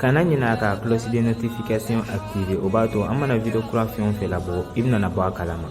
kana ɲinɛ ka cloche de notification activer o b'a to an mana video kura fɛn o fɛn labɔ i bɛna bɔ a kalama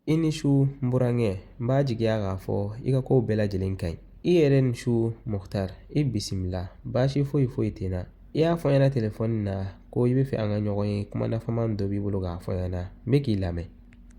i ni su n burankɛ n b'a jigiya k'a fɔ i ka kow bɛɛ lajɛlen ka ɲi i yɛrɛ ni su muhtar i bisimila baasi foyi foyi tɛ n na i y'a fɔ n ɲɛna telefɔni na ko i b'a fɛ an ka ɲɔgɔn ye kuma nafama dɔ b'i bolo k'a fɔ n ɲɛna n bɛ k'i lamɛn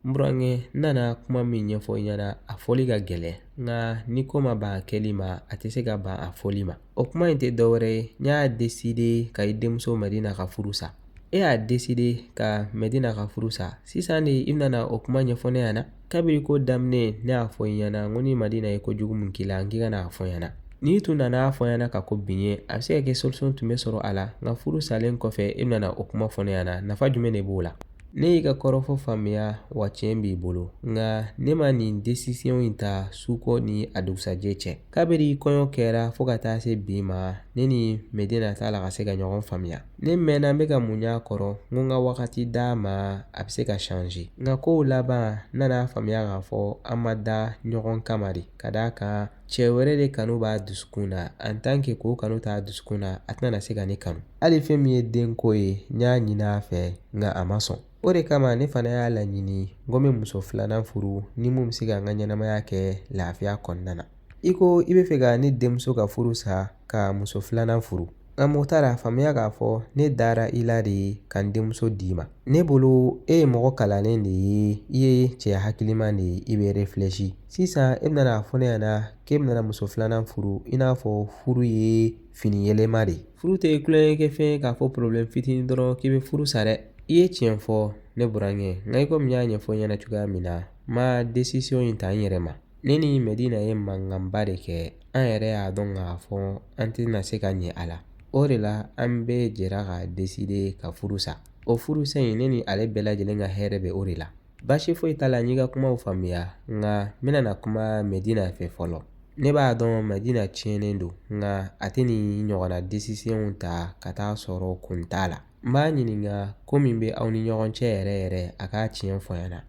n burankɛ n nana kuma min ɲɛfɔ i ɲɛna a fɔli ka gɛlɛn nka ni ko ma ban a kɛli ma a tɛ se ka ban a fɔli ma o kuma in tɛ dɔwɛrɛ ye n y'a deside ka i denmuso madina ka furu sa e y'a deside ka madina ka furu sa sisan de i bɛna na o kuma ɲɛfɔ ne ɲɛna kabiri ko daminɛ ne y'a fɔ i ɲɛna n ko ni madina ye ko jugu min k'i la n k'i ka na a fɔ n ɲɛna n'i tun nana a fɔ n ɲɛna ka kɔn bi ɲɛ a bɛ se ka kɛ solution tun bɛ sɔrɔ a la nka furu salen kɔfɛ e bɛna na o kuma fɔ ne ɲɛna nafa jumɛn de b'o la Ne y'i ka kɔrɔfɔ faamuya wa tiɲɛ b'i bolo nka ne ma nin décision in ta su ko ni a dugusajɛ cɛ kabiri kɔɲɔ kɛra fo ka taa se bi ma ne ni mɛdina t'a la ka se ka ɲɔgɔn faamuya ne mɛnna n bɛ ka muɲu a kɔrɔ n ko n ka wagati d'a ma a bɛ se ka shanze nka kow laban n nana a faamuya k'a fɔ an ma da ɲɔgɔn kama de ka d'a kan cɛ wɛrɛ de kanu b'a dusukun na en tant que k'o kanu t'a dusukun na a tɛna se ka ne kanu hali fɛn min ye denko ye n y'a ɲini a fɛ nka a ma sɔn o de kama ne fana y'a laɲini n ko n bɛ muso filanan furu ni min bɛ se ka n ka ɲɛnamaya kɛ lafiya kɔnɔna na i ko i b'a fɛ ka ne denmuso ka furu sa ka muso filanan furu nka muhtar a faamuya k'a fɔ ne dara i la de ka n denmuso d'i ma ne bolo e ye mɔgɔ kalannen de ye i ye cɛ hakiliman de ye i bɛ refilɛsi sisan e bɛna a fɔ ne ɲɛna k'e bɛna muso filanan furu i n'a fɔ furu ye fini yɛlɛma de furu tɛ tulonkɛfɛn ye k'a fɔ problème fitinin dɔrɔn k'i bɛ furu sa dɛ i ye tiɲɛ fɔ ne burankɛ nka i komi n y'a ɲɛfɔ i ɲɛna cogoya min na n ma décision in ta n yɛrɛ ma ne ni mɛdina ye mankanba de kɛ an yɛrɛ y'a dɔn k'a fɔ an tɛna se ka ɲɛ a la o de la an bɛɛ jɛra ka deside ka furu sa o furu sa in ne ni ale bɛɛ lajɛlen ka hɛrɛ bɛ o de la Baasi foyi t'a la n y'i ka kumaw faamuya nka n bɛna na kuma mɛdina fɛ fɔlɔ ne b'a dɔn mɛdina tiɲɛnen don nka a tɛ nin ɲɔgɔnna décisionw ta ka t'a sɔrɔ kun t'a la n b'a ɲininka ko min bɛ aw ni ɲɔgɔn cɛ yɛrɛ yɛrɛ a k'a tiɲɛ fɔ n ɲɛna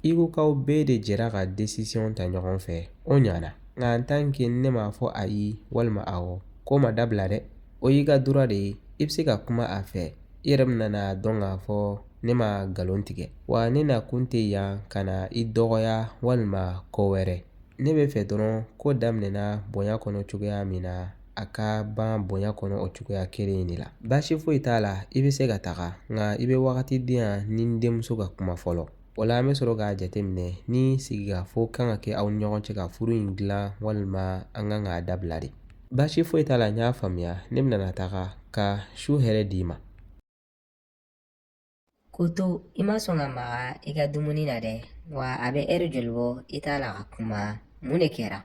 i ko k'aw bɛɛ de jɛra ka décision ta ɲɔgɔn fɛ o ɲana nka en tant que ne m'a fɔ a ye walima a ko ma dabila dɛ o y'i ka droit de ye i bɛ se ka kuma a fɛ i yɛrɛ bɛna dɔn k'a fɔ ne ma nkalon tigɛ wa ne na kun tɛ yan ka na i dɔgɔya walima ko wɛrɛ ne bɛ fɛ dɔrɔn ko daminɛna bonya kɔnɔ cogoya min na a ka ban bonya kɔnɔ o cogoya kelen in de la baasi foyi t'a la i bɛ se ka taga nka i bɛ wagati di yan ni n denmuso ka kuma fɔlɔ o la an bɛ sɔrɔ k'a jateminɛ ni sigikafɔ kan ka kɛ aw ni ɲɔgɔn cɛ ka furu in dilan walima an kan k'a dabila de baasi foyi t'a la n y'a faamuya ne bɛna taga ka su hɛrɛ d'i ma K'o to i ma sɔn ka maga i ka dumuni na dɛ wa a bɛ ɛri joli bɔ i t'a la ka kuma mun de kɛra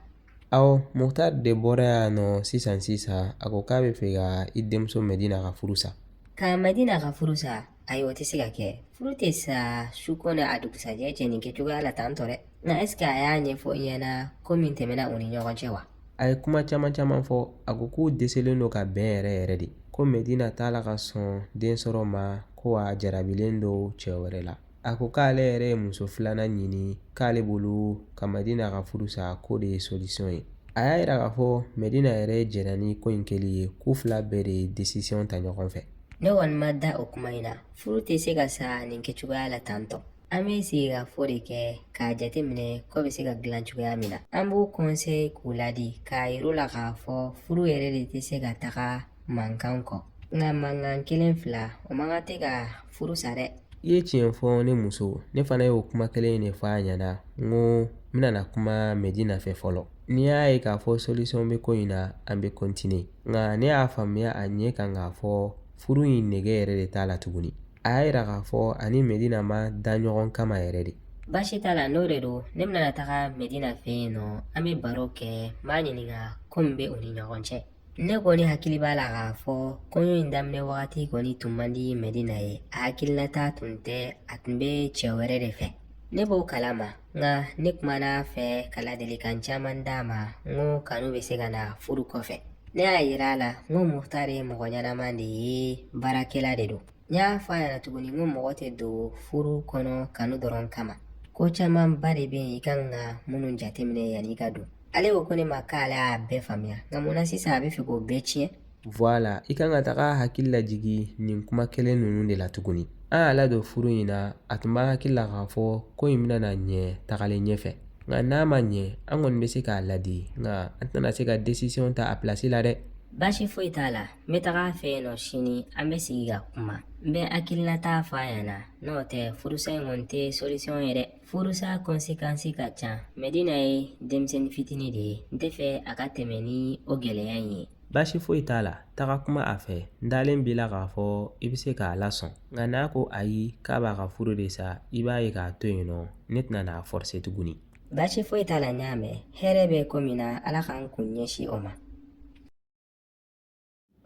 awɔ muhtari de bɔra yan nɔ sisan sisan a ko k'a bɛ fɛ ka i denmuso mɛdina ka furu sa ka mɛdina ka furu sa ayiwa o tɛ se ka kɛ furu tɛ sa su ko n'a dugusajɛ cɛ nin kɛcogoya la tan tɔ dɛ nka ɛseke a y'a ɲɛfɔ i ɲɛna ko min tɛmɛna u ni ɲɔgɔn cɛ wa a ye kuma caman caman fɔ a ko k'u dɛsɛlen don ka bɛn yɛrɛ yɛrɛ de ko mɛdina t'a la ka sɔn den sɔrɔ ma ko a jarabilen don cɛ wɛrɛ la a ko k'ale yɛrɛ ye muso filanan ɲini k'ale bolo ka mɛdina ka furu sa k'o de ye solisɔn ye a y'a yira k'a fɔ mɛdina yɛrɛ jɛnna ni ko in kɛli ye k'u fila bɛɛ de ye desisiyɔn ta ɲɔgɔn fɛ ne kɔni ma da o kuma in na furu tɛ se ka sa nin kɛcogoya la tan tɔ An bɛ sigikafɔ de kɛ k'a jateminɛ ko bɛ se ka dilan cogoya min na an b'u konseye k'u ladi k'a yir'u la k'a fɔ furu yɛrɛ de tɛ se ka taga mankan kɔ nka mankan kelen fila o man kan tɛ ka furu sa dɛ i ye tiɲɛ fɔ ne muso ne fana y'o kuma kelen in de fɔ a ɲɛna n ko n bɛna kuma mɛdina fɛ fɔlɔ n'i y'a ye k'a fɔ solisɔn bɛ ko in na an bɛ kontine nka ne y'a faamuya a ɲɛ kan k'a fɔ furu in nege yɛrɛ de t'a la tuguni a y'a yira k'a fɔ a ni medina ma dan ɲɔgɔn kama yɛrɛ de baasi t'a la n'o de don ne bɛna taga medina fɛ yen nɔ an bɛ baro kɛ n b'a ɲininka ko min bɛ u ni ɲɔgɔn cɛ ne kɔni hakili b'a la k'a fɔ kɔɲɔ in daminɛ wagati kɔni tun man di medina ye a hakilinata tun tɛ a tun bɛ cɛ wɛrɛ de fɛ ne b'o kalama nka ne kumana a fɛ ka ladilikan caman d'a ma n ko kanu bɛ se ka na furu kɔfɛ ne y'a yira a la n ko muhtari ye mɔgɔ ɲɛnama de ye baarakɛla de don n y'a fɔ a ɲɛna tuguni n ko mɔgɔ tɛ don furu kɔnɔ kanu dɔrɔn kama ko camanba de bɛ yen i kan ka minnu jateminɛ yanni i ka don ale ko ko ne ma k'ale y'a bɛɛ faamuya nka mun na sisan a bɛ fɛ k'o bɛɛ tiɲɛ Voilà i kan ka taga hakili lajigin nin kuma kelen ninnu de la tuguni an y'a ladon furu in na a tun b'a hakili la k'a fɔ ko in bɛna ɲɛ tagalen ɲɛfɛ nka n'a ma ɲɛ an kɔni bɛ se k'a ladi nka an tɛna se ka desisiɔn ta a pilasi la dɛ baasi foyi t'a la n bɛ taga a fɛ yen nɔ sini an bɛ sigi ka kuma n bɛ hakilinata fɔ a ɲɛna n'o tɛ furusa in kɔni tɛ solisiyɔn ye dɛ furusa kɔnsekansi ka ca mɛdina ye denmisɛnnin fitinin de ye n tɛ fɛ a ka tɛmɛ ni o gɛlɛya in ye Baasi foyi t'a la taga kuma a fɛ n dalen b'i la k'a fɔ i bɛ se k'a lasɔn nka n'a ko ayi k'a b'a ka furu de sa i b'a ye k'a to yen nɔ ne tɛna n'a fɔrse tuguni baasi foyi t'a la n y'a mɛn hɛrɛ bɛ ko min na ala k'an kun ɲɛsin o ma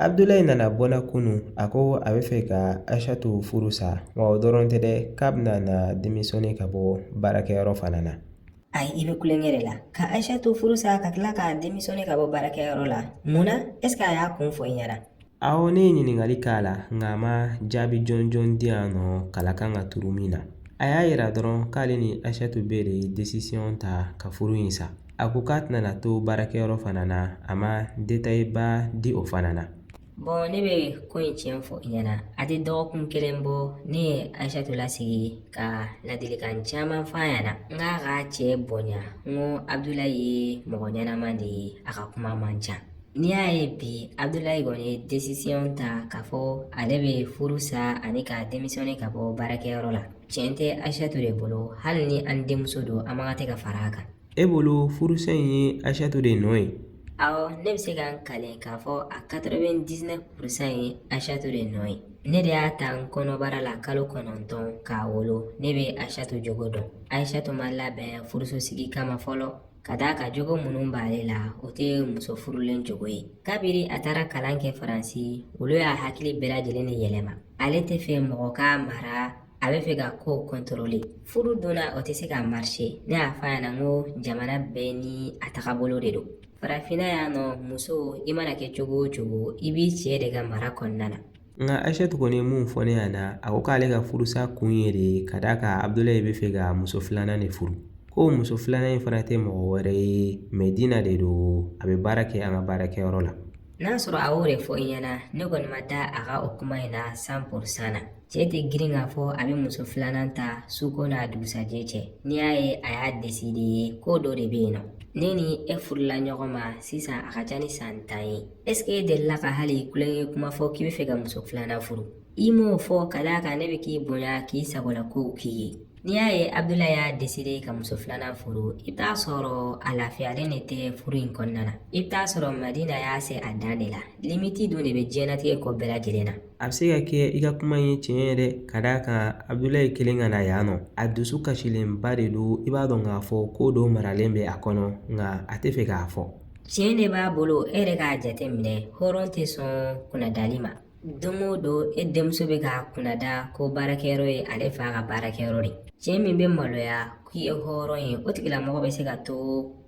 abudulayi nana bɔ n na kunun a ko a bɛ fɛ ka aishatu furu sa wa o dɔrɔn tɛ dɛ k'a bɛna na demisiyɔne ka bɔ baarakɛyɔrɔ fana na ayi i bɛ tulonkɛ de la ka aishatu furu sa ka tila ka demisiyɔne ka bɔ baarakɛyɔrɔ la mun na ɛseke a y'a kun fɔ i ɲɛna awɔ ne ye ɲininkali k'a la nka a ma jaabi jɔnjɔn di yan nɔ kala kan ka turu min na a y'a yira dɔrɔn k'ale ni aishatu bɛɛ de ye desisiyɔn ta ka furu in sa a ko k'a tɛna to baarakɛyɔrɔ fana na a ma detayiba di o fana na ne bɛ ko in tiɲɛ fɔ i ɲɛna a tɛ dɔgɔkun kelen bɔ ne ye aishatu lasigi ka ladilikan caman f'a ɲɛna n k'a k'a cɛ bonya n ko abudulayi ye mɔgɔ ɲɛnama de ye a ka kuma man ca n'i y'a ye bi abudulayi kɔni ye desisiyɔn ta k'a fɔ ale bɛ furu sa ani ka demisiyɔne ka bɔ baarakɛyɔrɔ la tiɲɛ tɛ aishatu de bolo hali ni an denmuso don an man kan tɛ ka fara a kan E bolo furusa in ye aishatu de nɔ ye awɔ ne bɛ se ka n kali k'a fɔ a katɛrɛvɛn disinɛfu purusan ye aishatu de nɔ ye ne de y'a ta n kɔnɔbara la kalo kɔnɔntɔn k'a wolo ne bɛ aishatu jogo dɔn aishatu ma labɛn furuso sigi kama fɔlɔ ka d'a kan jogo minnu b'ale la o tɛ muso furulen jogo ye kabiri a tagara kalan kɛ faransi olu y'a hakili bɛɛ lajɛlen de yɛlɛma ale tɛ fɛ mɔgɔ k'a mara a bɛ fɛ ka ko kɔntɔrɔle furu donna o tɛ se ka marishe ne y'a fɔ a ɲɛna n ko jamana bɛɛ ni a tagabolo de don farafinna yan nɔ muso i mana kɛ cogo o cogo i b'i cɛ de ka mara kɔnɔna na nka aishatu kɔni ye mun fɔ ne ɲɛna a ko k'ale ka furusa kun ye de ka d'a kan abudulayi bɛ fɛ ka muso filanan de furu ko muso filanan in fana tɛ mɔgɔ wɛrɛ ye madina de don a bɛ baara kɛ an ka baarakɛyɔrɔ la n'a sɔrɔ a y'o de fɔ i ɲɛna ne kɔni ma da a ka o kuma in na san purusan na cɛ tɛ girin k'a fɔ a bɛ muso filanan ta suko n'a dugusajɛ cɛ n'i y'a ye a y'a deside ye ko dɔ de bɛ yen nɔ ne ni e furula ɲɔgɔn ma sisan a ka ca ni san tan ye ɛseke e delila ka hali tulonkɛ kuma fɔ k'i bɛ fɛ ka muso filanan furu i m'o fɔ ka d'a kan ne bɛ k'i bonya k'i sagola kow k'i ye n'i y'a ye abudulayi y'a deside ka muso filanan furu i bɛ t'a sɔrɔ a lafiyalen de tɛ furu in kɔnɔna na i bɛ t'a sɔrɔ madina y'a se a dan de la limiti don de bɛ diɲɛnatigɛ ko bɛɛ lajɛlen na a bɛ se ka kɛ i ka kuma ye tiɲɛ yɛrɛ ka d'a kan abudulayi kelen ka na yan nɔ a dusu kasilenba de don i b'a dɔn k'a fɔ ko dɔ maralen bɛ a kɔnɔ nka a tɛ fɛ k'a fɔ tiɲɛ de b'a bolo e yɛrɛ k'a jate minɛ hɔrɔn tɛ sɔn kunnadali ma don o don e denmuso bɛ k'a kunnada ko baarakɛyɔrɔ ye ale fa ka baarakɛyɔrɔ de cɛ min bɛ maloya k'o ye hɔrɔn ye o tigilamɔgɔ bɛ se ka to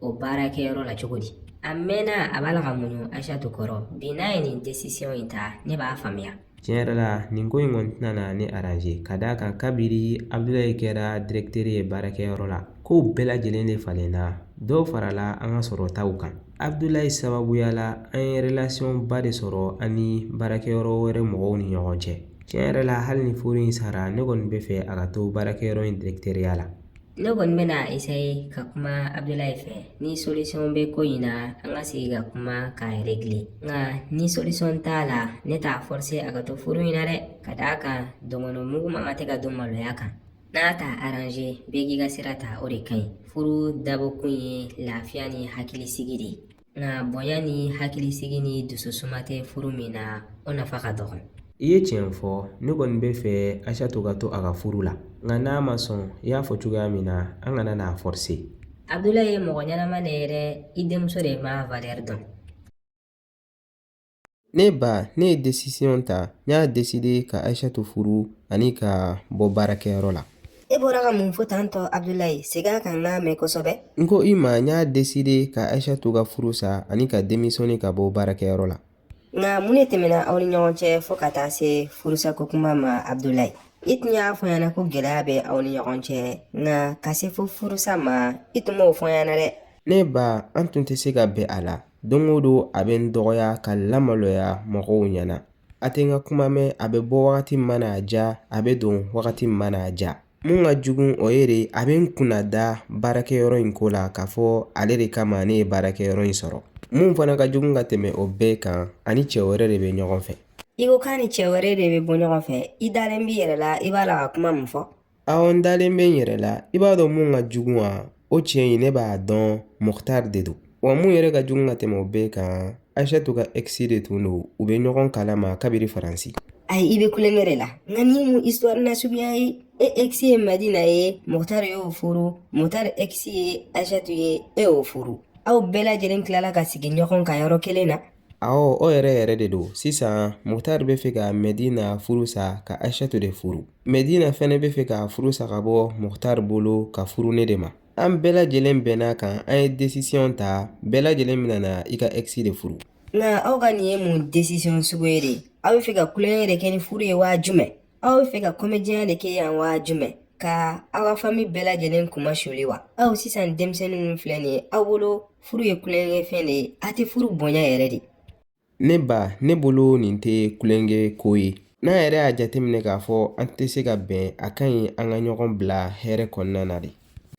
o baarakɛyɔrɔ la cogo di a mɛnna a b'a la ka muɲu aisatu kɔrɔ bi n'a ye nin desisiyɔn in ta ne b'a faamuya tiɲɛ yɛrɛ la nin ko in kɔni tɛna na ne aranze ka d'a kan kabiri abudulayi kɛra dirɛkitɛri ye baarakɛyɔrɔ la kow bɛɛ lajɛlen de falenna dɔw farala an ka sɔrɔtaw kan abudulayi sababuya la an ye relasiyɔn ba de sɔrɔ an ni baarakɛyɔrɔ wɛrɛ mɔgɔw ni ɲɔgɔn cɛ tiɲɛ yɛrɛ la hali ni furu in sara ne kɔni bɛ fɛ a ka to baarakɛyɔrɔ in dirɛkitɛriya la ne kɔni bɛna esaye ka kuma abudulayi fɛ ni solusiyɔn bɛ ko in na an ka sigi ka kuma k'a regile nka ni solusiyɔn t'a la ne t'a fɔrse a ka to furu in na dɛ ka d'a kan dɔnkɔnɔ mugu man ka tɛ ka dun maloya kan n'a tɛ aranze bɛɛ k'i ka sira ta o de ka ɲi furu dabɔkun ye lafiya ni hakilisigi de ye nka bonya ni hakilisigi ni dususuma tɛ furu min na o nafa ka dɔgɔ i ye tiɲɛ fɔ ne kɔni bɛ fɛ ayisatu ka to a ka furu la nka n'a ma sɔn i y'a fɔ cogoya min na an kana n'a fɔrse abudulayi ye mɔgɔ ɲɛnama de ye dɛ i denmuso de ma valɛri dɔn Ne ba ne ye desisiɔn ta n y'a deside ka ayisatu furu ani ka bɔ baarakɛyɔrɔ la e bɔra ka mun fɔ tan tɔ abudulayi segin a kan n'a mɛn kosɛbɛ n ko i ma n y'a deside ka ayisatu ka furu sa ani ka demisiyɔne ka bɔ baarakɛyɔrɔ la nka mun de tɛmɛna aw ni ɲɔgɔn cɛ fo ka taa se furusako kuma ma abudulayi i tun y'a fɔ n ɲɛna ko gɛlɛya bɛ aw ni ɲɔgɔn cɛ nka ka se fo furusa ma i tun m'o fɔ n ɲɛna dɛ ne ba an tun tɛ se ka bɛn a la Don o don a bɛ n dɔgɔya ka n lamaloya mɔgɔw ɲɛna a tɛ n ka kuma mɛn a bɛ bɔ wagati min mana a ja a bɛ don wagati min mana a ja mun ka jugu o ye de a bɛ n kunna da baarakɛyɔrɔ in ko la k'a fɔ ale de kama ne ye baarakɛyɔrɔ in sɔrɔ mun fana ka jugu ka tɛmɛ o bɛɛ kan a ni cɛ wɛrɛ de bɛ ɲɔgɔn fɛ i ko k'a ni cɛ wɛrɛ de bɛ bɔ ɲɔgɔn fɛ i dalen b'i yɛrɛ la i b'a la ka kuma min fɔ Awɔ n dalen bɛ n yɛrɛ la i b'a dɔn mun ka jugu wa o cɛ in ne b'a dɔn mukutari de don wa mun yɛrɛ ka jugu ka tɛmɛ o bɛɛ kan ayisatu ka ex de tun don u bɛ ɲɔgɔn kala ma kabiri faransi ayi i bɛ tulonkɛ de la nka nin mun isituwari lasuguya ye e ex ye madina ye mukutari y'o furu mukutari ex ye ayisatu ye e y'o furu aw bɛɛ lajɛlen tilala ka sigi ɲɔgɔn ka yɔrɔ kelen na Awɔ, o yɛrɛ yɛrɛ de don. Sisan Mukutari bɛ fɛ ka Mɛdina furu sa ka Aysatu de furu. Mɛdina fana bɛ fɛ ka furu sa ka bɔ Mukutari bolo ka furu ne de ma. An bɛɛ lajɛlen bɛnn'a kan an ye décision ta bɛɛ lajɛlen bɛna na i ka ex de furu. Nka aw ka nin ye mun décision sugu ye de? Aw bɛ fɛ ka tulonkɛ de kɛ ni furu ye wa jumɛn? Aw bɛ fɛ ka komediya de kɛ yan wa jumɛn ka aw ka fami bɛɛ lajɛlen kunmasuli wa aw sisan denmisɛnnin ninnu filɛ nin ye aw bolo furu ye tulonkɛfɛn de ye a tɛ furu bonya yɛrɛ de ne ba ne bolo nin tɛ tulonkɛ ko ye n'an yɛrɛ y'a jateminɛ k'a fɔ an tɛ se ka bɛn a ka ɲi an ka ɲɔgɔn bila hɛrɛ kɔnɔna na de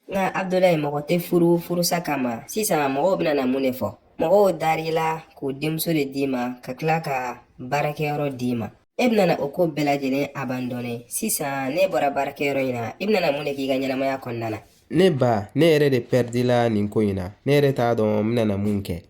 nka abudulayi mɔgɔ tɛ furu furusa kama sisan mɔgɔw bɛna na mun de fɔ mɔgɔw dar'i la k'u denmuso de d'i ma ka tila ka baarakɛyɔrɔ d'i ma e bɛna o ko bɛɛ lajɛlen abandɔne sisan n'e bɔra baarakɛyɔrɔ in na i bɛna mun de k'i ka ɲɛnamaya kɔnɔna na ne ba ne yɛrɛ de pɛridila nin ko in na ne yɛrɛ t'a dɔn n bɛna mun kɛ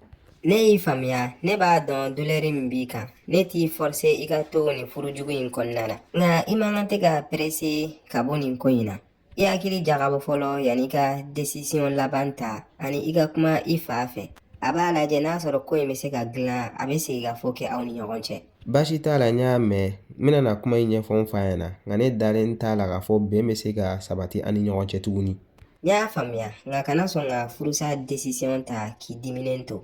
ne y'i faamuya ne b'a dɔn dulɛri min b'i kan ne t'i fɔrse i ka to nin furujugu in kɔnɔna na nka i man kan tɛ ka perese ka bɔ nin ko in na I hakili jagabɔ fɔlɔ yanni i ka desisiyɔn laban ta ani i ka kuma i fa fɛ a b'a lajɛ n'a sɔrɔ ko in bɛ se ka dilan a bɛ segin ka fɔ kɛ aw ni ɲɔgɔn cɛ baasi t'a la n y'a mɛn n bɛna kuma in ɲɛfɔ n fa ɲɛna nka ne dalen t'a la k'a fɔ bɛn bɛ se ka sabati an ni ɲɔgɔn cɛ tuguni n y'a faamuya nka kana sɔn ka furusa desisiyɔn ta k'i diminen to